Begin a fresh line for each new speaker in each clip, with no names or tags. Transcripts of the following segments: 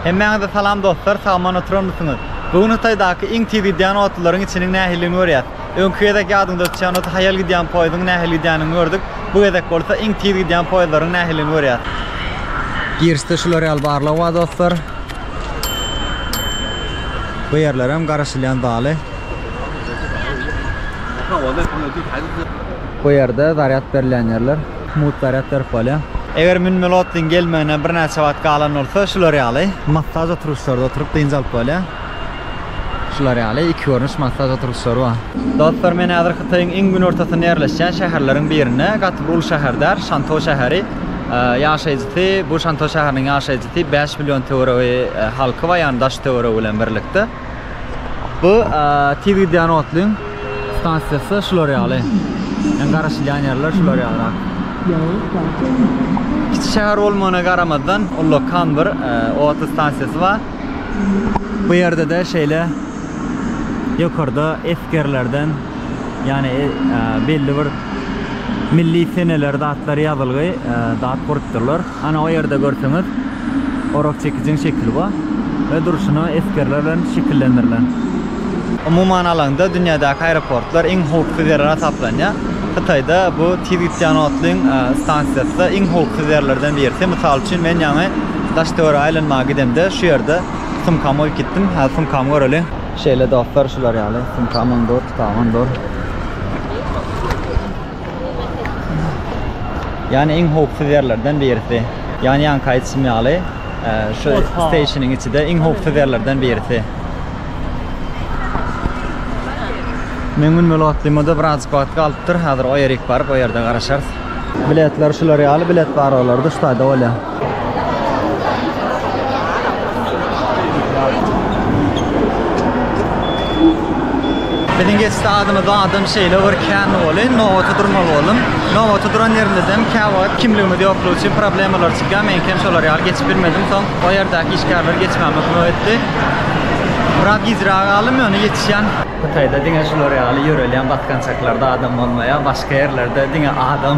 Hemmäňize salam dostlar sagaman oturanmysyňyz bu gün hytaýdaky iň tiz gidýän otlylaryň içiniň nähilligini görýäs öňki gezek ýadyňda tutýan bolsa haýal gidýän poýzdyň nähili gidýänini gördük bu gezek bolsa iň tiz gidýän poýzlaryň nähilligini görýäs. Girişde şular ýaly barlag bar dostlar bu ýerlerem garaşylýan zaly bu ýerde zarýad berilýän ýerler. Mut gaýrat berip bolýar. Eger münmeli otlyň gelmegine birnäçe wagt galan bolsa, şular ýaly massaž oturgyçlarda oturyp dynç alyp bolýar. Şular ýaly iki görnüş massaž oturgyçlary bar. Dostlar, men häzir Hytaýyň iň günortasynda ýerleşýän şäherleriň birinde, gaty bir uly şäher däl, Şantou şäheri. Ýaşaýjysy, bu Şantou şäheriniň ýaşaýjysy bäş million töweregi halky bar, ýagny daş-töweregi bilen birlikde. Bu tiz gidýän otlyň stansiýasy şular ýaly. Yani garaşylýan ýerler şular ýaly. Kiçi şäher bolmagyna garamazdan ullakan bir e, otly stansiýasy bar. Bu ýerde de şeýle ýokarda esgerlerden yani e, e, belli bir milli seneler datlary ýazylgy e, dat gurupdyrlar. Ana o ýerde görseňiz orak çekijiň şekili bar we durşuna esgerler bilen şekillendirilen. Umuman alanda dünýädäki aeroportlar iň howpsuz ýerler hasaplanýar. Hytaýda bu tiz gidýän otlyň stansiýasy-da iň howpsuz ýerlerden birisi. Mysal üçin men ýaňy daş-töwerege aýlanmaga gidemde şu ýerde sumkamy goýup gitdim. Häzir sumkamy göreliň. Şeýle dostlar şular ýaly sumkam ondur, tutam ondur. Yani iň howpsuz ýerlerden birisi. Yani ýanka aýtşym ýaly, e, şu Oha. stationyň içi-de iň howpsuz ýerlerden birisi. Men gün böl otlyma-da birazjyk wagt galypdyr. Hazir o ýerik baryp, o ýerde garaşarys. Biletler şular ýaly bilet bar olarda şu taýda bolýa. Biziň geçdi adymyz adam şeýle bir kän boly nobata durmaly boldum. Nobata duran ýerimizem käwagt kimligimiz ýoklugy üçin problemalar çykýar. Meňkem şolar ýaly geçip bilmedim. Soň o ýerdäki işgärler geçmäme kömek etdi. Biraz gijräk galdym ýöne ýetişýän. Hytaýda diňe şular ýaly ýörelýän basgançaklarda adam bolmaýar. Başga ýerlerde diňe adam.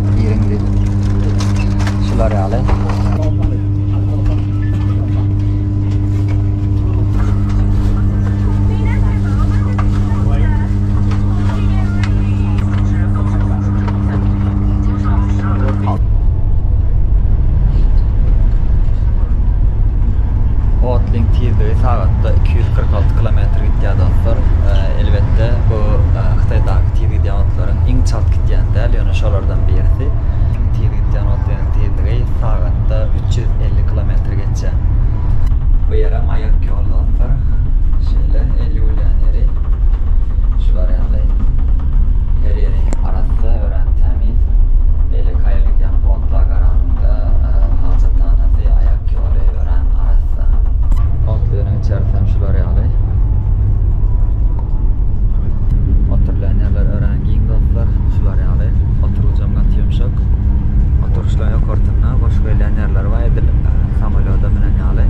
Biriňizi şular ýaly. Otlyň tizligi sagatda 246 km gidýär dostlar. Elbetde bu Hytaýdaky tiz gidýän otlaryň iň Çalt gitýän däl, ýöne şolardan birisi. Iň tiz gitýän otleniň tizligi sagatda üç ýüz elli kilometr geçýär. Bu ýerem aýak ýol dostlar. Şeýle elli gülýän ýeri. Şular ýaly. Her ýeri arassa, örän tämiz. Beýle kaýa gidýän otla garanyňda hajathanasyy, aýak ýoly örän arassa. Otleniň içerisem şular ýaly. Planýalar örän giň dostlar, şular ýaly, oturgyjam gaty ýumşak, oturgyçlaň ýokarsyna boş gelýän ýerleri bar edil samolýoda münen ýaly.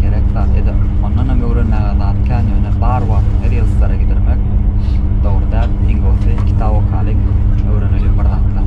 Gerek zat eda. Ondan hem öwrenmäge zat kän ýöne bar wagtyň her ýylyslara gidirmek dogry däl. Iň gowusy kitap okalyň, öwreneliň bir zatlar.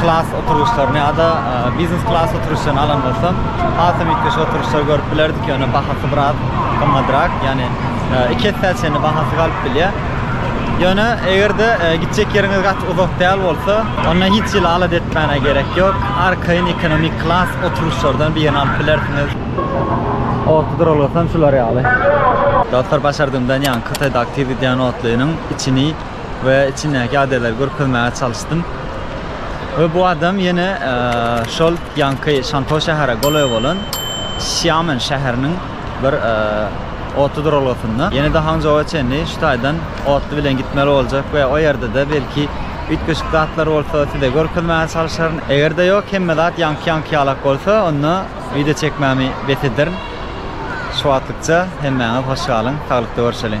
klas oturgyçlaryny ýa-da biznes klas oturgyçlaryny alan bolsam, hasam üýtgeşik oturgyçlary görüp bilerdik, ýöne bahasy biraz gymmadrak, ýagny iki essä çenli bahasy galyp bilýär. Ýöne eger-de gitjek ýeriňiz gaty uzak däl bolsa, onda hiç hili alat etmäne gerek ýok, arkaýyn ekonomik klas oturgyçlardan birini alyp bilersiňiz. Otly duralgasam şular ýaly. Dostlar başardygymdan ýaňky Hytaýdaky tiz gidýän otlynyň içini we içindäki adaylar görkezmäge çalyşdym we bu adam yene şol yanki şanto şahara golaý bolan şiamen şaharinin bir otly duralgasynda yene de hanjoa çenli şu taydan otly bilen gitmeli boljak we o yerde de belki üytgeşik zatlar bolsa size görkezmäge çalyşaryn eger de yok hemme zat yanki yanki yalak bolsa onda video çekmemi bes ederin şu wagtlykça hemmäňiz hoş galyň saglykda görüşeliň.